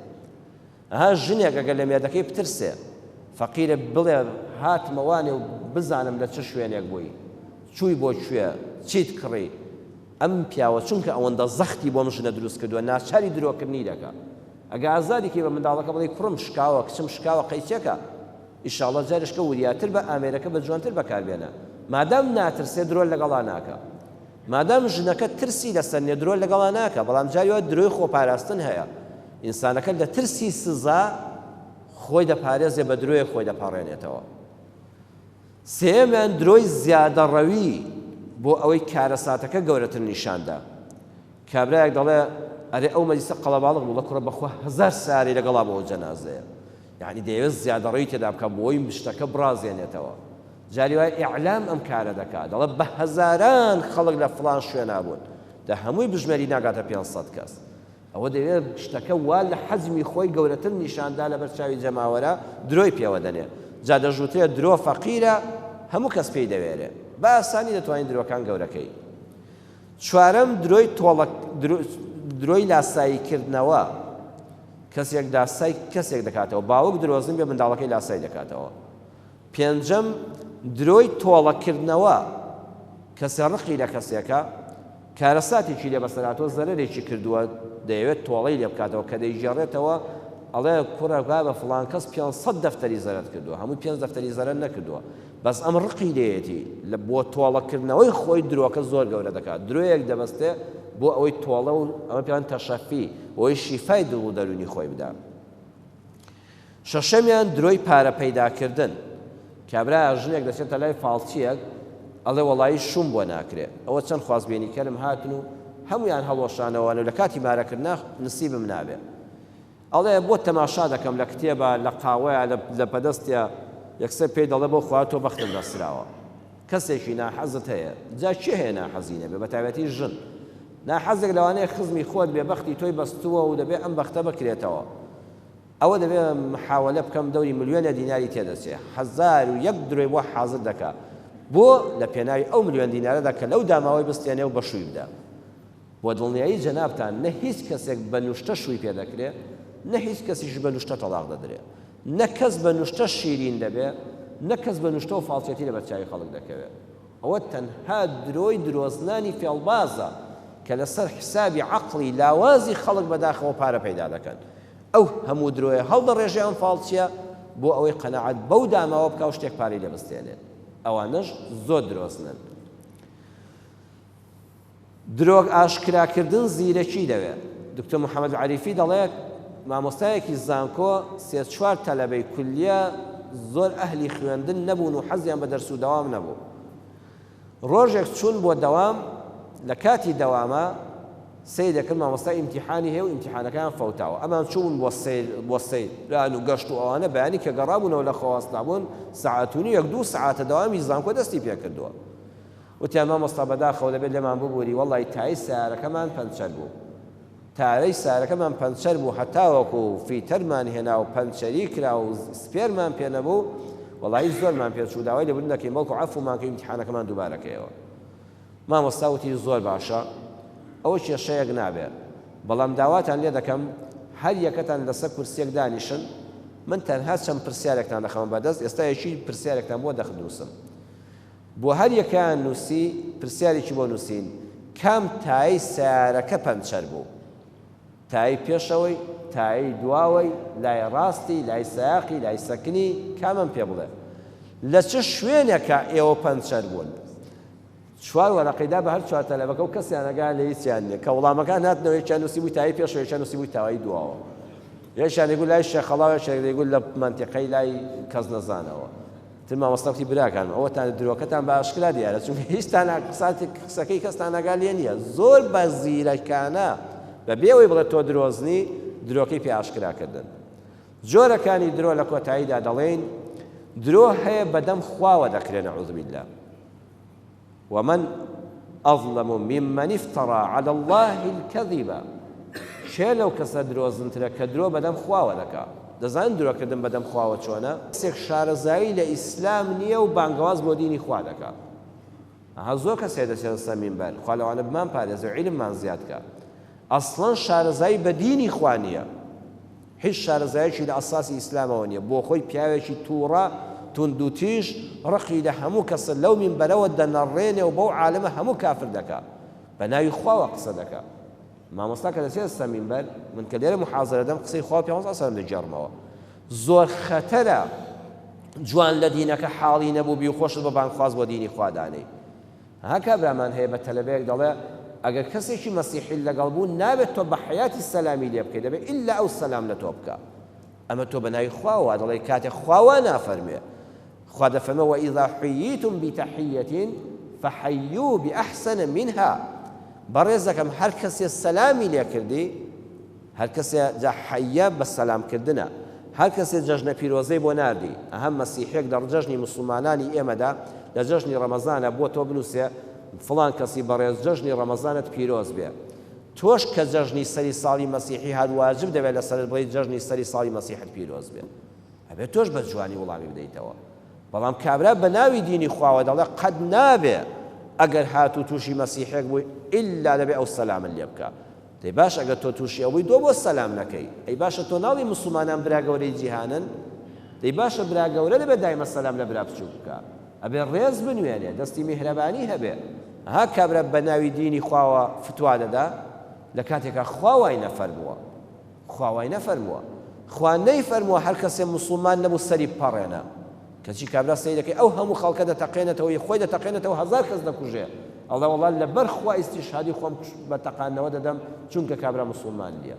ئەها ژنێک ئەگەر لە مێردەکەی بترسێ فەقیرە بڵێ هاتمە وانێ و بزانم لە چ شوێنێک بووی چووی بۆ کوێ چیت کڕی ئەم پیاوە چونکە ئەوەندە زەختی بۆم ژنە دروست کردووە ناچاری درۆکردنی دەکە ئەگە ئازادیکی بە منداڵەکە بڵی کوڕم شکاوە کچم شکاوە قەیچێکە ئیشاڵە جارشکە وریاتر بە ئامێرەکە بە جوانتر بەکاربێنە مادام ناترسێ درۆن لەگەڵا ناکە مادام ژنەکە ترسی لە سەرنیە درۆ لەگەڵا ناکە بەڵام جاری وا درۆی خۆپاراستن هەیە ئینسانەکە لە ترسی سزا خۆی دەپارێزێ بە درۆیە خۆی دەپاڕێنێتەوە سێمیان درۆی زیادە ڕەوی بۆ ئەوەی کارەساتەکە گەورەتر نیشاندا کابراەک دەڵێ ئەرێ ئەو مەلیسە قەڵەباڵغ بوو بە کوڕە بەخوا هزار ساری لەگەڵا بۆ ئەو جەنازەیە یانی دەیەوێت زیادەڕۆیی تێدا بکات بۆی شتەکە بڕازێنێتەوە جاری وای ئیعلام ئەم کارە دەکات دەڵێت بە هەزاران خەڵک لە فڵان شوێنا بوون دە هەمووی بژمێری ناگاتە 500 کەس ئەوە دەوێت شتەکە وا لە حەزمی خۆی گەورەتر نیشاندا لە بەرچاوی جەماوەرە درۆی پێوە دەنێ جا دەژوترێت درۆ فەقیرە هەموو کەس پێی دەوێرێ بە ئاسانی دەتوانین درۆکان گەورەکەی چوارەم، درۆی تۆڵە درۆی لاسایی کردنەوە، کەسێک لاسای کەسێک دەکاتەوە، باوک درۆزن بێ منداڵەکەی لاسای دەکاتەوە. پێنجەم، درۆی تۆڵە کردنەوە، کەسێ ڕقی لە کەسێکە، کارەساتێکی لێ بەسەر هاتووە، زەرەرێکی کردووە، دەیەوێت تۆڵەی لێ بکاتەوە، کە دەیگێڕێتەوە ئەڵێ کوڕە بابە فڵان کەس پێنج سەد دەفتەری زەرەرت کردووە، هەمووی پێنج دەفتەری زەرەر نەکردووە. بەس ئەم ڕقی لێیەتی لە بۆ تۆڵە کردنەوەی خۆی درۆکە زۆر گەورە دەکات درۆیەک دەبەستێ بۆ ئەوەی تۆڵە و ئەمە پێیان تەشەفی بۆی شیفای دڵ و دەرونی خۆی بدا شەشەمیان درۆی پارە پەیدا کردن کابرا ژنێک دەچێتە لای فاڵچیەک ئەڵێ وەڵایی شوم بۆ ناکرێ ئەوە چەند خوازبێنی کەرم هاتن و هەمویان هەڵۆشانەوەن و لە کاتی مارەکردنا نسیبم نابێ ئەڵێ بۆت تەماشا دەکەم لە کتێبە، لە قاوەیە، لە لەپەدەستە، یەکسەر پێی دەڵێ بۆ خوا تۆ بەختم بەستراوە. کەسێکی ناحەزت هەیە؟ جا کێ هەیە ناحەزی نەبێ، بەتایبەتی ژن. ناحەزێک لەوانەیە خزمی خۆت بێ، بەختی تۆی بەستووە و دەبێ ئەم بەختە بکرێتەوە. ئەوە دەبێ محاولە بکەم دەوری ملیۆنە دیناری تێ دەچێ، هەزار و یەک درۆی بۆ حازر دەکا. بۆ؟ لە پێناوی ئەو ملیۆن دینارەدا کە لەو داماوەی بستێنێ و بەشووی بدا. بۆ دڵنیایی جەنابتان نە هیچ کەسێک بە نوشتە شووی پێ دەکرێ، نە هیچ کەسیش بە نوشتە تەڵاق دەدرێ. نە کەس بە نوشتە شیرین دەبێ، نە کەس بە نوشتە و فاڵچێتی لەبەر چاوی خەڵک دەکەوێ. ئەوە تەنها درۆی درۆزنانی فێڵبازە کە لەسەر حیسابی عەقڵی لاوازی خەڵک بەداخەوە پارە پەیدا دەکەن. ئەو هەموو درۆیە هەڵدەڕێژێ ئەم فاڵچییە بۆ ئەوەی قەناعەت بەو داماوە بکا و شتێک پارەی لێ بستێنێ. ئەوانەش زۆر درۆزنن. درۆک ئاشکراکردن زیرەکی دەوێ. دکتۆر محمد عەریفی دەڵێ مامۆستایەکی زانکۆ سێ چوار تەلەبەی کولیە زۆر ئەهلی خوێندن نەبوون و حەزیان بە دەرس و دەوام نەبوو ڕۆژێک چوون بۆ دەوام لە کاتی دەوامە سەیرەکرد مامۆستا ئیمتیحانی هەیە و ئیمتیحانەکەیان فەوتاوە ئەمان چوون بۆ سەیر بۆ سەیران و گەشت و ئەوانە بەیانی کە گەڕابوونەوە لە خۆوەستابوون سەعات و نیو یەک دوو سەعاتە دەوامی زانکۆ دەستی پێکردووە وتیان مامۆستا بەداخەوە دەبێت لێمان ببوری وەڵای تایەی سەیارەکەمان پەنچەر بوو تایەی سەیارەکەمان پەنچەر بوو هەتاوەکو فیتەرمان هێنا و پەنچەری کرا و سپێرمان پێ نەبوو وەڵایی زۆرمان پێ چوو داوای لێبوردن دەکەین بەڵکو عەفومان کە ئیمتیحانەکەمان دووبارە کەیەوە مامۆستا وتی زۆر باشە ئەوە کێشەیەک نابێ بەڵام داواتان لێ دەکەم هەر یەکەتان لەسەر کورسیەک دانیشن من تەنها چەند پرسیارێکتان دەخەمە بەردەست ئێستا یەکی پرسیارێکتان بۆ دەخنووسم بۆ هەر یەکەیان نووسی، پرسیارێکی بۆ نووسین، کام تایەی سەیارەکە پەنچەر بوو؟ تایەی پێشەوەی، تایەی دواوەی، لای ڕاستی، لای سایەقی، لای سەکنی، کامەم پێ بڵێ؟ لە چ شوێنێکا ئێوە پەنچەر بوون؟ چوار وەرەقەی دا بە هەر چوار تەلەبەکە و کەسیان ئەگایان لە هیچیان نییە. کە وڵامەکان هاتنەوە یەکیان نووسیبووی تایەی پێشەوە، یەکیان نووسیبووی تایەی دواوە. یەکیان دەیگوت لای شێخەڵا و یەکێک دەیگوت لە مەنتیقەی لای کەسنەزانەوە. تر مامۆستا گوتی براکانم ئەوەتان درۆکەتان بە ئاشکرا دیارە چونکە هیچتان قساتێک قسەکەی کەستان ئاگا لێ نییە زۆر بە زیرەکانە بەبێ ئەوەی بڵێت تۆ درۆزنی درۆکەی پێ ئاشکرا کردن جۆرەکانی درۆ لە کۆتاییدا دەڵێین درۆ هەیە بەدەم خواوە دەکرێن نعوذ باللە ومن اظلم ممن افتری علی اللە الکذب کێ لەو کەسە درۆزنترە کە درۆ بەدەم خواوە دەکا دەزانن درۆ کردن بەدەم خواوە چۆنە کەسێک شارەزایی لە ئیسلام نیە و بانگەواز بۆ دینی خوا دەکا ئەها زۆر کەسێ دەچێتە سەر مینبەر خوا لەوانە بمان پارێزێ و عیلممان زیاد کا ئەسڵەن شارەزایی بە دینی خوا نیە هیچ شارەزایەکی لە ئەساسی ئیسلامەوە نیە بۆخۆی پیاوێکی توڕە توندوتیژ ڕقی لە هەموو کەسە لەو مینبەرەوە دەنەڕێنێ و بەو عالمە هەموو کافر دەکا بەناوی خواوە قسە دەکا مامۆستا کە دەچێتە سەر مینبەر من کە لێرە محازرە دەم قسەی خوا پیامبەر صلی الله دەگێڕمەوە زۆر خەتەرە جوان لە دینەکە حاڵی نەبوو بی خۆشت بە بانگخواز بۆ دینی خوا دانێی ها کابرامان هەیە بە تەلەبەیەک دەڵێ ئەگەر کەسێکی مەسیحی لەگەڵ بوو نابێت تۆ بە حەیاتی سەلامی لێ بکەی دەبێت ئیلا ئەو سەلام لە تۆ بکا ئەمە تۆ بە ناوی خواوە وا دەڵێی کاتێک خوا وا نافەرمێ خوا دەفەرمێ وەئیذا حییتم بتحیەتین فحیو بأحسن منها بەڕێزەکەم هەر کەسێ سەلامی لێ کردی هەر کەسێ جا حەیە بە سەلام کردنە هەر کەسێ جەژنە پیرۆزەی بۆ ناردی ئەها مەسیحێک لە ڕجەژنی موسڵمانانی ئێمەدا لە جەژنی ڕەمەزانە بۆ تۆ بنوسێ فڵان کەسی بەڕێز جەژنی ڕەمەزانت پیرۆز بێ تۆش کە جەژنی سەری ساڵی مەسیحی هات واجب دەبێ لە سەرت بڵێی جەژنی سەری ساڵی مەسیحت پیرۆز بێ ئەبێ تۆش بە جوانی وڵامی بدەیتەوە بەڵام کابرا بە ناوی دینی خواوە دەڵێ قەد نابێ ئەگەر هاتوو تووشی مەسیحێک بووی ئللا دەبێ ئەو سەلامن لێ بکە دەی باش ئەگەر تۆ توشی ئەوبوی دۆ بۆ سەلام نەکەی ئەی باشە تۆ ناڵی موسڵمانان برا گەورەی جیهانن دەی باشە برا گەورە دەبێ دایمە سەلام لە برا بچوک بکا ئەبێ ڕێز بنوێنێ دەستی میهرەبانی هەبێ ها کابرا بە ناوی دینی خواوە فتوا دەدا لە کاتێکا خوا وای نەفەرمووە خوا وای نەفەرمووە خوا نەیفەرمووە هەر کەسێ موسڵمان نەبوو سەری بپەڕێنە کەچی کابرا سەیرەکەی ئەو هەموو خەڵکە دەتەقێنێتەوە ی خۆی دەتەقێنێتەوە هەزار کەس دەکوژێ ئەڵێ وەڵا لەبەر خوا ئیستیشهادی خۆم بە تەقاندنەوە دەدەم چونکە کابرا موسوڵمان نیە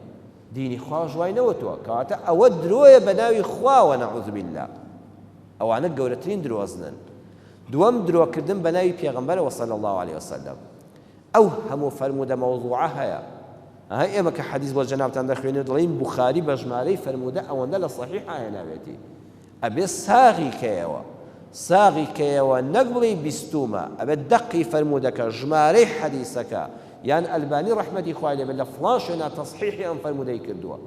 دینی خواش وای نەوتووە کەواتە ئەوە درۆیە بە ناوی خواوە نەعوذ باللە ئەوانە گەورەترین درۆزنن دووەم درۆکردن بە ناوی پێغەمبەرەوە صلی الله علیه وسلم ئەو هەموو فەرموودە مەوزوعە هەیە ئەها ئێمە کە حەدیث بۆ جەنابتان دەخوێنێ دەڵێین بوخاری بە ژمارەی فەرموودە ئەوەندە لە صحیحە هێناوێتی ئەبێت ساغی کەیەوە ساغی کەیەوە نەک بڵێی بیستومە ئەبێت دەقی فەرموودەکە ژمارەی حەدیسەکە یان ئەلبانی ڕەحمەتی خوای لێبێت لە فڵان شوێنا تەسحیحی ئەم فەرموودەی کردووە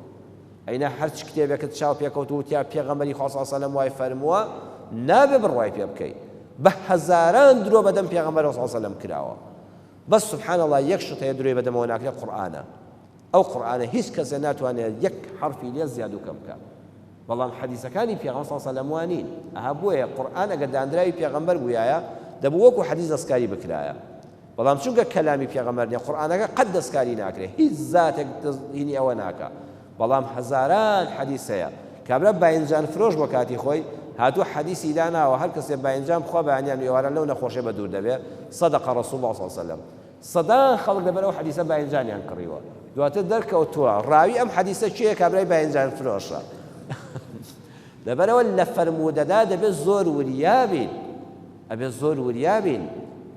ئەینا هەرچ کتێبێکت چاو پێکەوت و تیا پێغەمبەری خوا صلی سەلەم وای فەرمووە نابێ بڕوای پێ بکەی بە هەزاران درۆ بەدەم پێغەمبەر صلی سەلەم کراوە بەس سبحان الله یەک شت هەیە درۆی بەدەمەوە ناکرێت قورئانە ئەو قورئانە هیچ کەسێ ناتوانێت یەک حرفی لێ زیاد و کەم بکات بەڵام حەدیسەکانی پێغەمبەر صلی اللە علیە و سلم وانین ئەها بۆیە قورئان ئەگەر دانراوی پێغەمبەر بویایە دەبوو وەکو حەدیس دەستکاری بکرایە بەڵام چونکە کەلامی پێغەمبەر نیە قورئانەکە قەت دەستکاری ناکرێ هیچ زاتێک دەست هینی ئەوە ناکا بەڵام هەزاران حەدیس هەیە کابرا باینجان فرۆش بۆ کاتی خۆی هاتوو حەدیسی داناوە هەر کەسێ باینجان بخوا بەیانیان ئێواران لەو نەخۆشێ بە دوور دەبێ صدق رسول الله صلی اللە علیە و سلم سەدان خەڵک لەبەر ئەو حەدیسە باینجانیان کڕیوە دواتر دەرکەوتووە ڕاوی ئەم حەدیسە کێیە کابرای باینجان فرۆشە لەبەرەوە لە فەرموودەدا دەبێت زۆر وریا بین ئەبێت زۆر وریا بین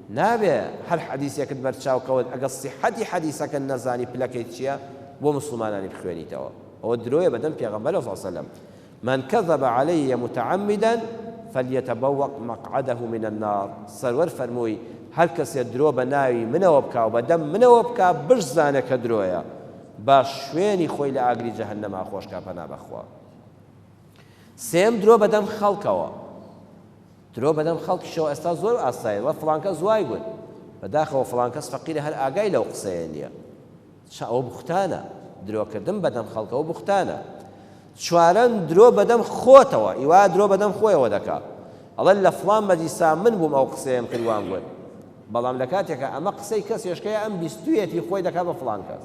نابێ هەر حەدیسێکت بەرچاوکەوت ئەگەر سیحەتی حەدیسەکە نەزانی پلەکەی چییە بۆ مسلمانانی بخوێنیتەوە ئەوە درۆیە بەدەم پێغەمبەر صلی الله علیه و سلم من کذب علی متعمدا فلیتبوء مقعده من النار، سەروەر فەرمووی، هەر کەسێ درۆ بە ناوی منەوە بکا و بە دەم منەوە بکا بشزانێ کە درۆیە، با شوێنی خۆی لە ئاگری جەهەنەما خۆش کا پەنا بە خوا. سێیەم درۆ بە دەم خەڵکەوە، درۆ بە دەم خەڵکیشەوە ئێستا زۆر ئاسایە، وە فڵان کەس وای گوت، بەداخەوە فڵان کەس فەقیرە هەر ئاگای لەو قسەیە نیە، چ ئەوە بوختانە؟ درۆ کردن بەدەم خەڵکەوە بوختانە. چوارەم، درۆ بەدەم خۆتەوە، ی وایە درۆ بەدەم خۆیەوە دەکا. ئەڵێ لە فڵان مەجلیسا من بووم ئەو قسەیەم کرد وام گوت. بەڵام لە کاتێکا ئەمە قسەی کەس هێشکەیە ئەم بیستوویەتی خۆی دەکا بە فڵان کەس.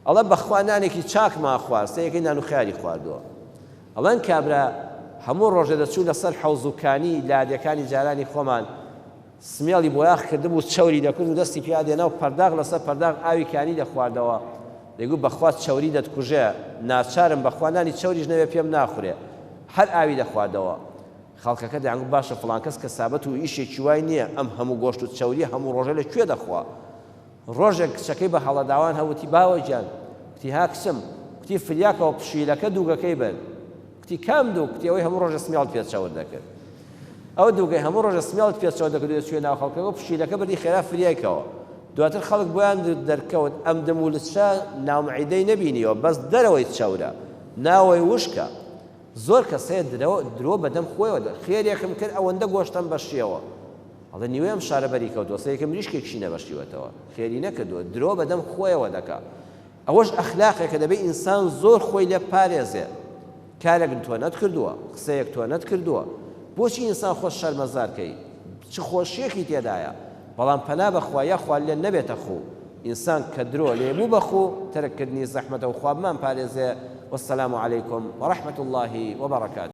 ئەڵێ بەخوا نانێکی چاکمان خوارد، سێیەکەی نان و خیاری خواردووە. ئەڵێن کابرا هەموو ڕۆژێ دەچوو لە سەر حەوز و کانی لادێکانی جارانی خۆمان، سمێڵی بۆیاخ کردبوو چەوری دەکرد و دەستی پیا دێنا و پەرداخ لەسەر پەرداخ ئاوی کانی دەخواردەوە، دەیگوت بەخوا چەوری دەتکوژێ، ناچارم بەخوا نانی چەوریش نەبێ پێم ناخورێ. هەر ئاوی دەخواردەوە. خەڵکەکە دەیانگوت باشە فڵان کەس کەسابەت و ئیشێکی وای نییە ئەم هەموو گۆشت و چەورییە هەموو ڕۆژێ لە کوێ دەخوا؟ ڕۆژێک کچەکەی بە هەڵەداوان هە وتی، باوە گیان! کوتی، ها کچم! کوتی، فریاکەوە پشیلەکە دووگەکەی بەن! کوتی، کام دووگ؟ کوتی، ئەوەی هەموو ڕۆژە سمێڵت پێ چەور دەکرد! ئەو دووگەی هەموو ڕۆژە سمێڵت پێ چەور دەکرد و دەچوویە ناو خەڵکەکە و پشیلەکە بردی خێرا فریایکەوە! دواتر خەڵک بۆیان دەرکەوت ئەم دم و لچە ناومعیدەی نەبینیوە، بەس دەرەوەی چەورە، ناوەی وشکە! زۆر کەس هەیە درۆ درۆ بەدەم خۆیەوە دەڵێ خێرێکم کرد ئەوەندە گۆشتم بەشیەوە ئەڵێ نیوەی ئەم شارە بەری کەوتوە سەیەکە مریشکێکشی نەبەشیوەتەوە خێری نەکردوە درۆ بەدەم خۆیەوە دەکا ئەوەش ئەخلاقێکە دەبێ ئینسان زۆر خۆی لێ بپارێزێ کارێک تۆ نەتکردووە قسەیەک تۆ نەتکردووە بۆچی ئینسان خۆت شەرمەزار کەی چ خۆشیەکی تێدایە بەڵام پەنا بەخوا یاخوا لێت نەبێتە خوو ئینسان کە درۆ لێ بوو بە خوو تەرک کردنی زەحمەتە و خوا بمان پارێزێ والسلام علیکم ورحمە اللە وبرکاته.